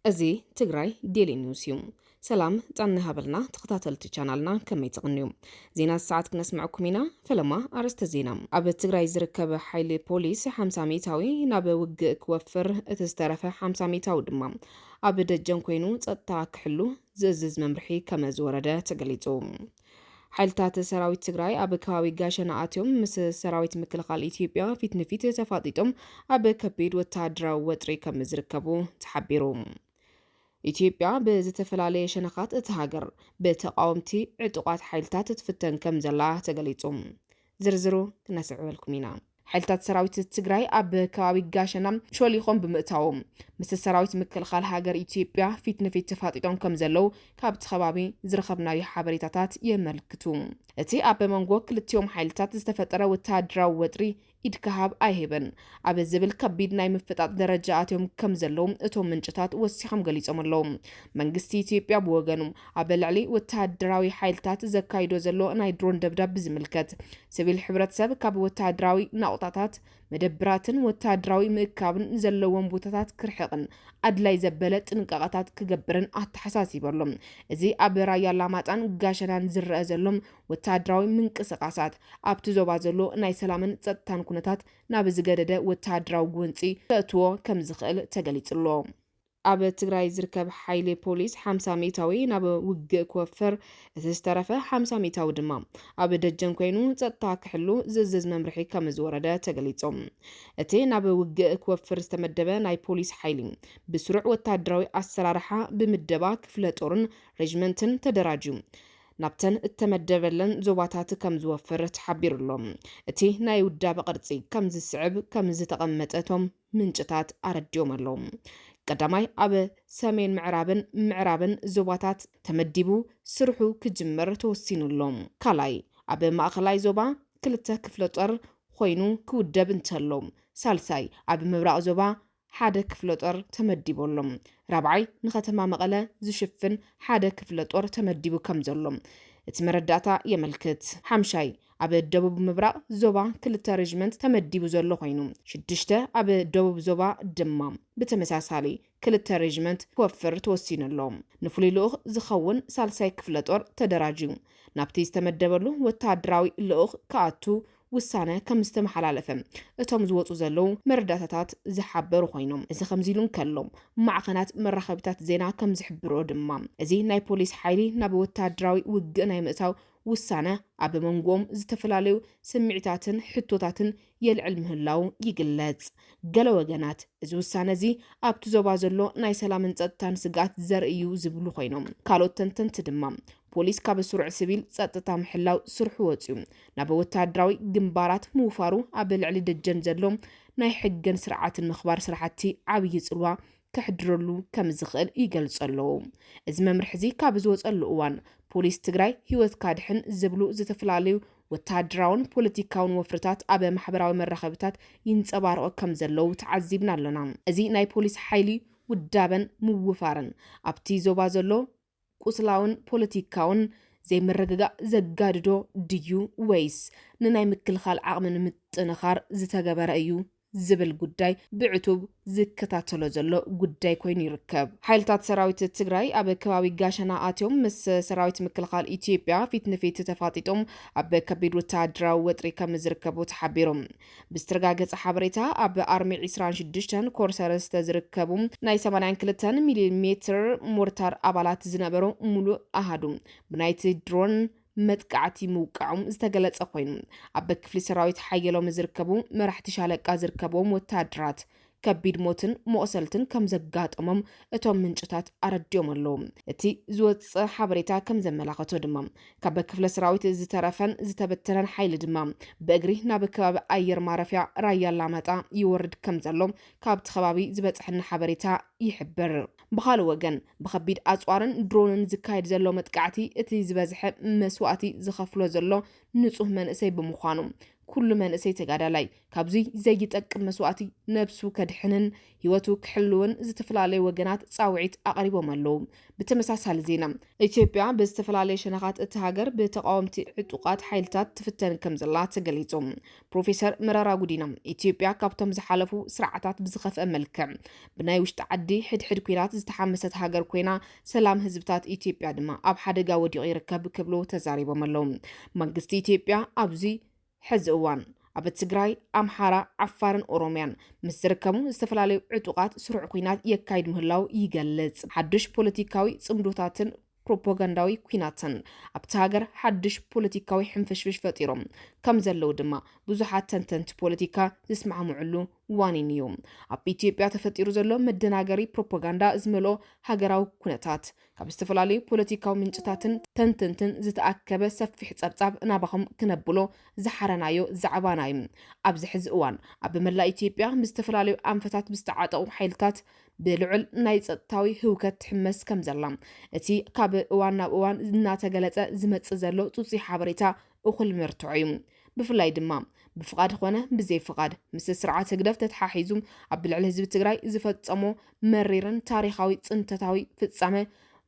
እዚ ትግራይ ዴሊ ኒውስ እዩ። ሰላም ጣና ሃበልና ተኸታተልቲ ቻናልና ከመይ ትቕንዩ ዜና ሰዓት ክነስምዐኩም ኢና። ፈለማ ኣርእስተ ዜና ኣብ ትግራይ ዝርከብ ሓይሊ ፖሊስ 50 ሚታዊ ናብ ውግእ ክወፍር እቲ ዝተረፈ 50 ሚታዊ ድማ ኣብ ደጀን ኮይኑ ጸጥታ ክሕሉ ዝእዝዝ መምርሒ ከመ ዝወረደ ተገሊጹ። ሓይልታት ሰራዊት ትግራይ ኣብ ከባቢ ጋሸና ኣትዮም ምስ ሰራዊት ምክልኻል ኢትዮጵያ ፊት ንፊት ተፋጢጦም ኣብ ከቢድ ወተሃደራዊ ወጥሪ ከም ዝርከቡ ተሓቢሩ። ኢትዮጵያ ብዝተፈላለየ ሸነኻት እታ ሃገር ብተቓወምቲ ዕጡቓት ሓይልታት ትፍተን ከም ዘላ ተገሊጹ። ዝርዝሩ ክነስዕበልኩም ኢና። ሓይልታት ሰራዊት ትግራይ ኣብ ከባቢ ጋሸና ሾሊኾም ብምእታዎም ምስ ሰራዊት ምክልኻል ሃገር ኢትዮጵያ ፊት ንፊት ተፋጢጦም ከም ዘለው ካብቲ ከባቢ ዝረኸብናዮ ሓበሬታታት የመልክቱ። እቲ ኣብ መንጎ ክልቲኦም ሓይልታት ዝተፈጠረ ወተሃደራዊ ወጥሪ ኢድካ ሃብ ኣይህብን ኣብ ዝብል ከቢድ ናይ ምፍጣጥ ደረጃ ኣትዮም ከም ዘለው እቶም ምንጭታት ወሲኾም ገሊጾም ኣለው። መንግስቲ ኢትዮጵያ ብወገኑ ኣብ ልዕሊ ወተሃደራዊ ሓይልታት ዘካይዶ ዘሎ ናይ ድሮን ደብዳብ ብዝምልከት ስቪል ሕብረተሰብ ካብ ወተሃደራዊ ናቑጣታት፣ መደብራትን ወተሃደራዊ ምእካብን ዘለዎም ቦታታት ክርሕቕን ኣድላይ ዘበለ ጥንቃቐታት ክገብርን ኣተሓሳሲቡ ኣሎ። እዚ ኣብ ራያ ኣላማጣን ጋሸናን ዝረኣ ዘሎ ወተሃደራዊ ምንቅስቓሳት፣ ኣብቲ ዞባ ዘሎ ናይ ሰላምን ጸጥታን ኩነታት ናብ ዝገደደ ወተሃደራዊ ጎንጺ ከእትዎ ከምዝኽእል ተገሊጹ'ሎ። ኣብ ትግራይ ዝርከብ ሓይሊ ፖሊስ ሓምሳ ሚእታዊ ናብ ውግእ ክወፍር፣ እቲ ዝተረፈ ሓምሳ ሚእታዊ ድማ ኣብ ደጀን ኮይኑ ጸጥታ ክሕሉ ዝእዝዝ መምርሒ ከምዝወረደ ተገሊጹ። እቲ ናብ ውግእ ክወፍር ዝተመደበ ናይ ፖሊስ ሓይሊ ብስሩዕ ወተሃደራዊ ኣሰራርሓ ብምደባ ክፍለ ጦርን ሬጅመንትን ተደራጅዩ ናብተን እተመደበለን ዞባታት ከምዝወፍር ተሓቢሩ'ሎ። እቲ ናይ ውዳበ ቅርጺ ከምዝስዕብ ከምዝተቐመጠ እቶም ምንጭታት ኣረዲኦም ኣለው። ቀዳማይ ኣብ ሰሜን ምዕራብን ምዕራብን ዞባታት ተመዲቡ ስርሑ ክጅምር ተወሲኑ ኣሎ። ካልኣይ ኣብ ማእኸላይ ዞባ ክልተ ክፍለጦር ኾይኑ ክውደብ እንተሎ። ሳልሳይ ኣብ ምብራቕ ዞባ ሓደ ክፍለጦር ተመዲቡ ኣሎ። ራብዓይ ንከተማ መቐለ ዝሽፍን ሓደ ክፍለጦር ተመዲቡ ከምዘሎ እቲ መረዳእታ የመልክት። ሓምሻይ ኣብ ደቡብ ምብራቕ ዞባ ክልተ ሬጅመንት ተመዲቡ ዘሎ ኮይኑ፣ ሽዱሽተ ኣብ ደቡብ ዞባ ድማ ብተመሳሳሊ ክልተ ሬጅመንት ክወፍር ተወሲኑ ኣሎ። ንፍሉይ ልኡኽ ዝኸውን ሳልሳይ ክፍለ ጦር ተደራጅዩ ናብቲ ዝተመደበሉ ወተሃደራዊ ልኡኽ ክኣቱ ውሳነ ከም ዝተመሓላለፈ እቶም ዝወፁ ዘለዉ መረዳእታታት ዝሓበሩ ኮይኖም፣ እዚ ከምዚ ኢሉ እንከሎ ማዕኸናት መራኸቢታት ዜና ከም ዝሕብርኦ ድማ እዚ ናይ ፖሊስ ሓይሊ ናብ ወተሃደራዊ ውግእ ናይ ምእታው ውሳነ ኣብ መንጎኦም ዝተፈላለዩ ስምዒታትን ሕቶታትን የልዕል ምህላዉ ይግለጽ። ገለ ወገናት፣ እዚ ውሳነ'ዚ ኣብቲ ዞባ ዘሎ ናይ ሰላምን ጸጥታን ስግኣት ዘርኢ'ዩ ዝብሉ ኮይኖም፣ ካልኦት ተንተንቲ ድማ፣ ፖሊስ ካብ ስሩዕ ስቪል ጸጥታ ምሕላው ስርሑ ወጺኡ ናብ ወተሃደራዊ ግንባራት ምውፋሩ ኣብ ልዕሊ ደጀን ዘሎ ናይ ሕግን ስርዓትን ምኽባር ስራሕቲ ዓብዪ ጽልዋ ከሕድረሉ ከምዝኽእል ይገልጹ ኣለዉ። እዚ መምርሒ እዚ ካብ ዝወፀሉ እዋን ፖሊስ ትግራይ ህይወትካ ድሕን ዝብሉ ዝተፈላለዩ ወተሃደራውን ፖለቲካውን ወፍርታት ኣብ ማሕበራዊ መራኸቢታት ይንፀባረቑ ከም ዘለዉ ተዓዚብና ኣለና። እዚ ናይ ፖሊስ ሓይሊ ውዳበን ምውፋርን ኣብቲ ዞባ ዘሎ ቁስላውን ፖለቲካውን ዘይምርግጋእ ዘጋድዶ ድዩ ወይስ ንናይ ምክልኻል ዓቕሚ ንምጥንኻር ዝተገበረ እዩ ዝብል ጉዳይ ብዕቱብ ዝከታተሎ ዘሎ ጉዳይ ኮይኑ ይርከብ። ሓይልታት ሰራዊት ትግራይ ኣብ ከባቢ ጋሸና ኣትዮም ምስ ሰራዊት ምክልኻል ኢትዮጵያ ፊት ንፊት ተፋጢጦም ኣብ ከቢድ ወተሃደራዊ ወጥሪ ከምዝርከቡ ተሓቢሩ። ብዝተረጋገፀ ሓበሬታ ኣብ ኣርሚ ዒስራን ሽዱሽተን ኮር ሰለስተ ዝርከቡ ናይ ሰማንያን ክልተን ሚሊ ሜትር ሞርታር ኣባላት ዝነበሩ ሙሉእ ኣሃዱ ብናይቲ ድሮን መጥቃዕቲ ምውቃዖም ዝተገለፀ ኮይኑ ኣብ ክፍሊ ሰራዊት ሓየሎም ዝርከቡ መራሕቲ ሻለቃ ዝርከብዎም ወታደራት ከቢድ ሞትን መቑሰልትን ከም ዘጋጠሞም እቶም ምንጭታት ኣረዲኦም ኣለዉ። እቲ ዝወጸ ሓበሬታ ከም ዘመላኸቶ ድማ ካብ ክፍለ ሰራዊት ዝተረፈን ዝተበተነን ሓይሊ ድማ ብእግሪ ናብ ከባቢ ኣየር ማረፍያ ራያ ኣላማጣ ይወርድ ከም ዘሎ ካብቲ ከባቢ ዝበጽሐና ሓበሬታ ይሕብር። ብኻልእ ወገን ብከቢድ ኣጽዋርን ድሮንን ዝካየድ ዘሎ መጥቃዕቲ እቲ ዝበዝሐ መስዋእቲ ዝኸፍሎ ዘሎ ንጹህ መንእሰይ ብምዃኑ ኩሉ መንእሰይ ተጋዳላይ ካብዙይ ዘይጠቅም መስዋእቲ ነብሱ ከድሕንን ህይወቱ ክሕልውን ዝተፈላለዩ ወገናት ፃውዒት ኣቕሪቦም ኣለዉ። ብተመሳሳሊ ዜና ኢትዮጵያ ብዝተፈላለየ ሸነኻት እቲ ሃገር ብተቓወምቲ ዕጡቓት ሓይልታት ትፍተን ከምዘላ ተገሊፁ። ፕሮፌሰር መረራ ጉዲና ኢትዮጵያ ካብቶም ዝሓለፉ ስርዓታት ብዝኸፍአ መልክዕ ብናይ ውሽጢ ዓዲ ሕድሕድ ኲናት ዝተሓመሰት ሃገር ኮይና ሰላም ህዝብታት ኢትዮጵያ ድማ ኣብ ሓደጋ ወዲቑ ይርከብ ክብሉ ተዛሪቦም ኣለው። መንግስቲ ኢትዮጵያ ኣብዚ ሕዚ እዋን ኣብ ትግራይ፣ ኣምሓራ፣ ዓፋርን ኦሮምያን ምስ ዝርከቡ ዝተፈላለዩ ዕጡቓት ስሩዕ ኲናት የካይድ ምህላው ይገልጽ። ሓዱሽ ፖለቲካዊ ጽምዶታትን ፕሮፓጋንዳዊ ኲናትን ኣብቲ ሃገር ሓዱሽ ፖለቲካዊ ሕንፍሽፍሽ ፈጢሮም ከም ዘለው ድማ ብዙሓት ተንተንቲ ፖለቲካ ዝስማዕምዕሉ ዋኒን እዩ። ኣብ ኢትዮጵያ ተፈጢሩ ዘሎ መደናገሪ ፕሮፓጋንዳ ዝመልኦ ሃገራዊ ኩነታት፣ ካብ ዝተፈላለዩ ፖለቲካዊ ምንጭታትን ተንተንትን ዝተኣከበ ሰፊሕ ጸብጻብ ናባኹም ክነብሎ ዝሓረናዮ ዛዕባና እዩ። ኣብዚ ሕዚ እዋን፣ ኣብ መላእ ኢትዮጵያ ብዝተፈላለዩ ኣንፈታት ብዝተዓጠቑ ሓይልታት ብልዑል ናይ ጸጥታዊ ህውከት ትሕመስ ከምዘላ፣ እቲ ካብ እዋን ናብ እዋን እናተገለጸ ዝመጽእ ዘሎ ጽጹይ ሓበሬታ እኹል መርትዖ እዩ። ብፍላይ ድማ ብፍቓድ ኾነ ብዘይ ፍቓድ ምስ ስርዓት ህግደፍ ተተሓሒዙ ኣብ ልዕሊ ህዝቢ ትግራይ ዝፈፀሞ መሪርን ታሪኻዊ ፅንተታዊ ፍፃመ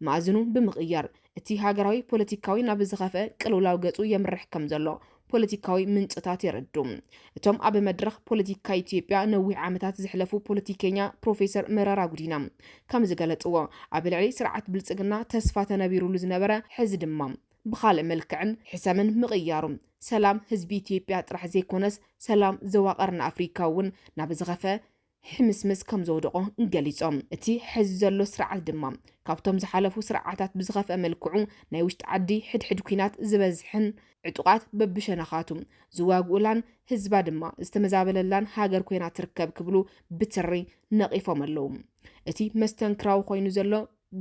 መኣዝኑ ብምቕያር እቲ ሃገራዊ ፖለቲካዊ ናብ ዝኸፍአ ቅልውላው ገፁ የምርሕ ከም ዘሎ ፖለቲካዊ ምንጭታት የረዱ። እቶም ኣብ መድረኽ ፖለቲካ ኢትዮጵያ ነዊሕ ዓመታት ዝሕለፉ ፖለቲከኛ ፕሮፌሰር መረራ ጉዲና ከም ዝገለፅዎ ኣብ ልዕሊ ስርዓት ብልፅግና ተስፋ ተነቢሩሉ ዝነበረ ሕዚ ድማ ብኻልእ መልክዕን ሕሰምን ምቕያሩ፣ ሰላም ህዝቢ ኢትዮጵያ ጥራሕ ዘይኮነስ ሰላም ዞባ ቀርኒ ኣፍሪካ እውን ናብ ዝኸፈ ሕምስምስ ከምዘውደቖ ገሊፆም። እቲ ሐዚ ዘሎ ስርዓት ድማ ካብቶም ዝሓለፉ ስርዓታት ብዝኸፍአ መልክዑ ናይ ውሽጢ ዓዲ ሕድሕድ ኲናት ዝበዝሐን ዕጡቓት በብሸነኻቱ ዝዋግኡላን ህዝባ ድማ ዝተመዛበለላን ሃገር ኮይና ትርከብ ክብሉ ብትሪ ነቒፎም ኣለው። እቲ መስተንክራዊ ኮይኑ ዘሎ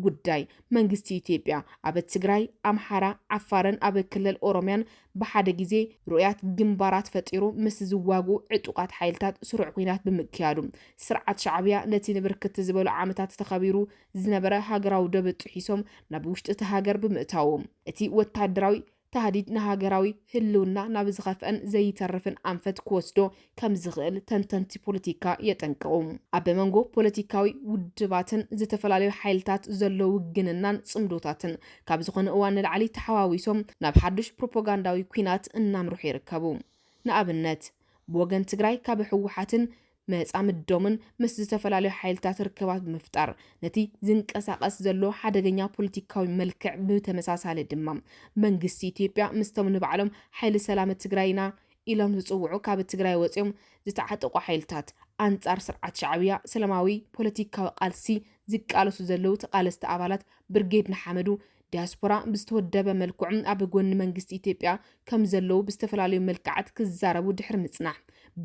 ጉዳይ መንግስቲ ኢትዮጵያ ኣብ ትግራይ፣ ኣምሓራ፣ ዓፋርን ኣብ ክልል ኦሮምያን ብሓደ ግዜ ርኡያት ግንባራት ፈጢሩ ምስ ዝዋግኡ ዕጡቓት ሓይልታት ስሩዕ ኲናት ብምክያዱ፣ ስርዓት ሻዕብያ ነቲ ንብርክት ዝበሉ ዓመታት ተኸቢሩ ዝነበረ ሃገራዊ ዶብ ጥሒሶም ናብ ውሽጢ'ቲ ሃገር ብምእታዉ፣ እቲ ወተሃደራዊ ታህዲድ ንሃገራዊ ህልውና ናብ ዝኸፍአን ዘይተርፍን ኣንፈት ክወስዶ ከምዝኽእል ተንተንቲ ፖለቲካ የጠንቅቑ። ኣብ መንጎ ፖለቲካዊ ውድባትን ዝተፈላለዩ ሓይልታት ዘሎ ውግንናን ጽምዶታትን ካብ ዝኾነ እዋን ንላዕሊ ተሓዋዊሶም ናብ ሓዱሽ ፕሮፖጋንዳዊ ኲናት እናምርሑ ይርከቡ። ንኣብነት ብወገን ትግራይ ካብ ህወሓትን መጻምዶምን ምስ ዝተፈላለዩ ሓይልታት ርክባት ብምፍጣር ነቲ ዝንቀሳቐስ ዘሎ ሓደገኛ ፖለቲካዊ መልክዕ ብተመሳሳሊ ድማ መንግስቲ ኢትዮጵያ ምስቶም ንባዕሎም ሓይሊ ሰላም ትግራይ ኢና ኢሎም ዝጽውዑ ካብ ትግራይ ወጺኦም ዝተዓጠቑ ሓይልታት ኣንጻር ስርዓት ሻዕብያ ሰላማዊ ፖለቲካዊ ቃልሲ ዝቃለሱ ዘለዉ ተቓለስቲ ኣባላት ብርጌድ ንሓመዱ ዲያስፖራ ብዝተወደበ መልክዑ ኣብ ጎኒ መንግስቲ ኢትዮጵያ ከም ዘለዉ ብዝተፈላለዩ መልክዓት ክዛረቡ ድሕሪ ምጽናሕ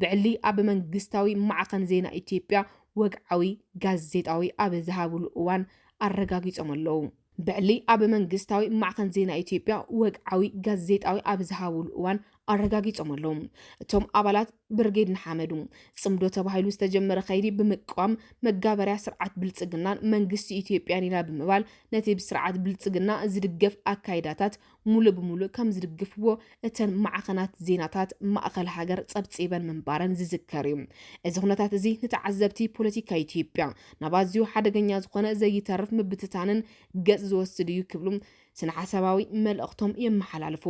ብዕሊ ኣብ መንግስታዊ ማዕኸን ዜና ኢትዮጵያ ወግዓዊ ጋዜጣዊ ኣብ ዝሃብሉ እዋን ኣረጋጊጾም ኣለዉ። ብዕሊ ኣብ መንግስታዊ ማዕኸን ዜና ኢትዮጵያ ወግዓዊ ጋዜጣዊ ኣብ ዝሃብሉ እዋን ኣረጋጊጾም ኣለዉ። እቶም ኣባላት ብርጌድ ንሓመዱ ጽምዶ ተባሂሉ ዝተጀመረ ከይዲ ብምቅዋም መጋበርያ ስርዓት ብልጽግናን መንግስቲ ኢትዮጵያን ኢና ብምባል ነቲ ብስርዓት ብልጽግና ዝድገፍ ኣካይዳታት ሙሉእ ብሙሉእ ከም ዝድግፍዎ እተን ማዕኸናት ዜናታት ማእኸል ሃገር ጸብጺበን ምንባረን ዝዝከር እዩ። እዚ ኩነታት እዚ ንተዓዘብቲ ፖለቲካ ኢትዮጵያ ናብ ኣዝዩ ሓደገኛ ዝኾነ ዘይተርፍ ምብትታንን ገጽ ዝወስድ እዩ ክብሉ ስነሓሳባዊ መልእኽቶም የመሓላልፉ።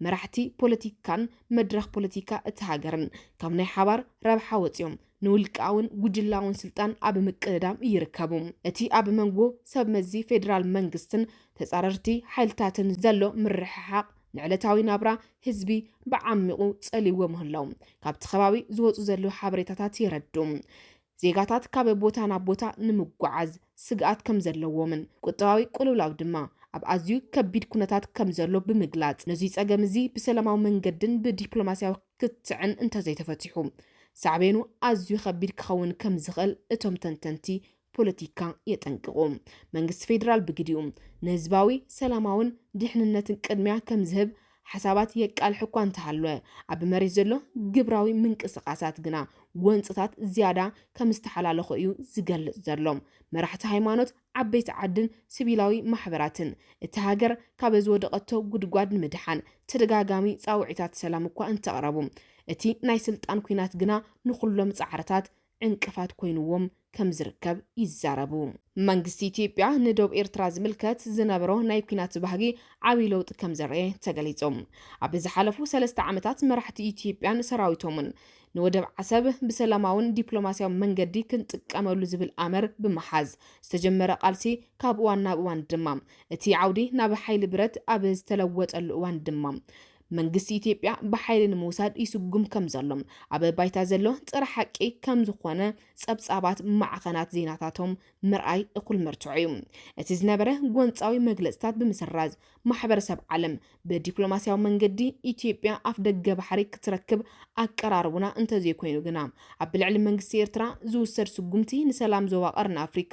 መራሕቲ ፖለቲካን መድረኽ ፖለቲካ እቲ ሃገርን ካብ ናይ ሓባር ረብሓ ወጺኦም ንውልቃውን ጉጅላውን ስልጣን ኣብ ምቅድዳም ይርከቡ። እቲ ኣብ መንጎ ሰብመዚ ፌደራል መንግስትን ተጻረርቲ ሓይልታትን ዘሎ ምርሕሓቕ ንዕለታዊ ናብራ ህዝቢ ብዓሚቝ ጸልይዎ ምህላዉ ካብቲ ከባቢ ዝወጹ ዘለዉ ሓበሬታታት የረድኡ። ዜጋታት ካብ ቦታ ናብ ቦታ ንምጉዓዝ ስግኣት ከምዘለዎምን ቁጠባዊ ቅልውላው ድማ ኣብ ኣዝዩ ከቢድ ኩነታት ከምዘሎ ብምግላጽ፣ ነዙይ ጸገም እዚ ብሰላማዊ መንገድን ብዲፕሎማሲያዊ ክትዕን እንተዘይተፈቲሑ ሳዕቤኑ ኣዝዩ ከቢድ ክኸውን ከምዝኽእል እቶም ተንተንቲ ፖለቲካ የጠንቅቑ። መንግስቲ ፌደራል ብግዲኡ፣ ንህዝባዊ፣ ሰላማውን ድሕንነትን ቅድሚያ ከምዝህብ ሓሳባት የቃልሕ እኳ እንተሃለወ፣ ኣብ መሬት ዘሎ ግብራዊ ምንቅስቓሳት ግና ጎንፅታት ዝያዳ ከም ዝተሓላለኹ እዩ ዝገልፅ ዘሎ። መራሕቲ ሃይማኖት፣ ዓበይቲ ዓድን ስቪላዊ ማሕበራትን፣ እታ ሃገር ካብ ዝወደቐቶ ጉድጓድ ንምድሓን ተደጋጋሚ ፃውዒታት ሰላም እኳ እንተቕረቡ፣ እቲ ናይ ስልጣን ኲናት ግና ንኹሎም ፃዕርታት ዕንቅፋት ኮይኑዎም ከምዝርከብ ይዛረቡ። መንግስቲ ኢትዮጵያ ንዶብ ኤርትራ ዝምልከት ዝነበሮ ናይ ኲናት ባህጊ ዓብይ ለውጢ ከምዘርኣየ ተገሊፁ። ኣብ ዝሓለፉ ሰለስተ ዓመታት መራሕቲ ኢትዮጵያን ሰራዊቶምን ንወደብ ዓሰብ ብሰላማውን ዲፕሎማሲያዊ መንገዲ ክንጥቀመሉ ዝብል ኣምር ብምሓዝ ዝተጀመረ ቃልሲ ካብ እዋን ናብ እዋን ድማ እቲ ዓውዲ ናብ ሓይሊ ብረት ኣብ ዝተለወጠሉ እዋን ድማ መንግስቲ ኢትዮጵያ ብሓይሊ ንምውሳድ ይስጉም ከም ዘሎ ኣብ ባይታ ዘሎ ጽረ ሓቂ ከም ዝኾነ ጸብጻባት ማዕኸናት ዜናታቶም ምርኣይ እኹል መርትዖ እዩ። እቲ ዝነበረ ጎንጻዊ መግለጽታት ብምስራዝ፣ ማሕበረሰብ ዓለም ብዲፕሎማስያዊ መንገዲ ኢትዮጵያ ኣፍደገ ባሕሪ ክትረክብ ኣቀራርቡና እንተዘይኮይኑ ግና ኣብ ልዕሊ መንግስቲ ኤርትራ ዝውሰድ ስጉምቲ ንሰላም ዞባ ቀርኒ ኣፍሪካ